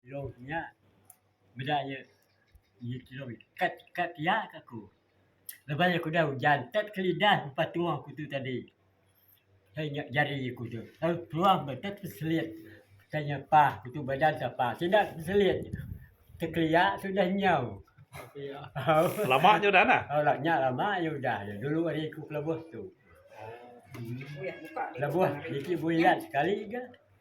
Telou nya bila iya nyin telou kad kad iya ke aku. Lebai aku udah ujan kad ke lidah lepas tuoh aku tu tadi. Hai nya jari aku tu. Lalu peluang bah kad peselit kai nya pah aku tu badan ka pah. Sida ke peselit tekelia sudah nyau. Lama nya udah nah. Au nya lama nya udah. Dulu ari aku ke lebuh tu. Lebuh niki bulan sekali ga.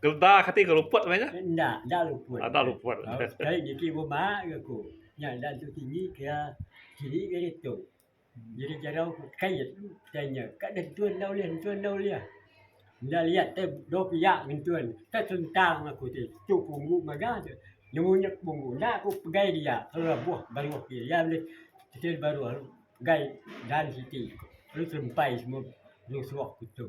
Gelda ke ti ke luput meh nya. Enda, enda luput. Enda luput. Sekali niki buma ke ku. Nya enda tu tinggi ke iya. Tinggi ke ditu. Jadi jarau ku kait ke nya. Ka dentun enda ulih, dentun enda ulih. Enda liat te dua pia ngentun. Te sentang aku ti. Tu punggu mega tu. Nemu nya punggu. Enda ku pegai dia. Lalu lebuh baruh ke iya ulih. Kecil baruh lalu pegai dan siti. Lalu sempai semua nyusuh ke tu.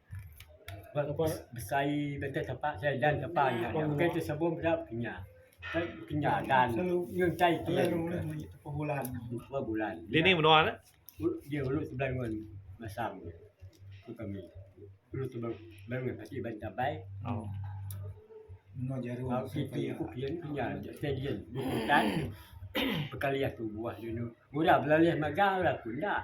Ba tempat besai datai tempat sai dan tempat nya ukai ti sebum da kinya. Ukai kinya dan ngintai ti nya dua bulan. Di ulu sebelah ngun masam ku kami. Ulu sebelah ngun kaki ba tabai. Au siti ku kian kinya datai dian bubutan bekaliah tubuh anu. Murah belalih mega laku enda.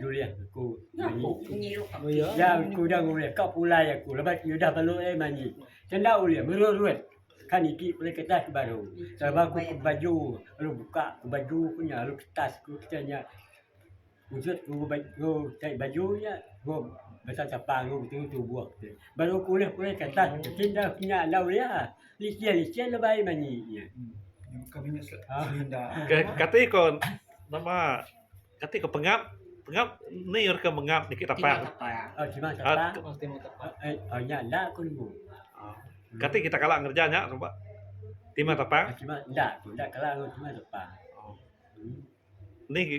Nulih aku manyi. Iya ku udah ngulih ka pulai aku lebai ku udah balu ai manyi. Tenda ulih mererut ka niki pulai kertas ke baru. Teba ku ke baju lalu buka ke baju ku nya lalu kertas ku kita nya ujut ku tai baju nya ku basa sapa ku telu tubuh ti. Baru ku ulih pulai kertas ti enda nya enda ulih ah. Licin licin lebai manyi nya. Ka kati ko nama Kati ko pengap pengap ni orang ke mengap niki tapak. Kati kita kala ngereja nya ba timah tapak. Niki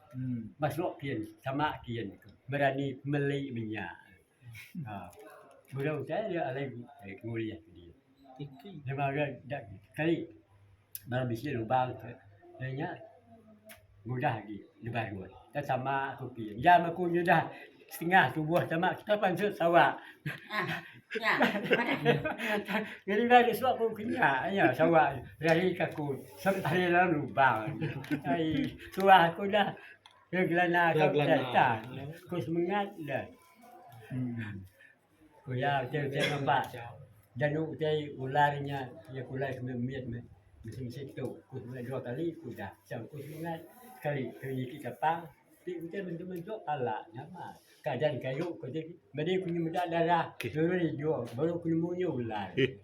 Masuk ke yen sama ke yen berani meli menya burung te yak alai ngulih ke diye deba re dak keli bala bisi lubang te de nya mudah agi nebaruh dak sama ku ke yen nya ku nyudah Setengah tubuh tama kita pansut Sawa. Ngeringa di suak pun kenya nya Sawa rahi ka aku sep ari dalam lubang. Ai tuah aku dah ke gelana ka Gelana. Ku semengat dah. Ular ti utai ngempak dan utai ular nya iya ke ular semina mit meh mesti mesti tu ku semina dua kali ku udah tang ku semina sekali keli ti tepa ti utai mentu mentu pala nya mah kajan kayu ku ti medi ku meda darah turun ijuk baru ku nemu nya ular.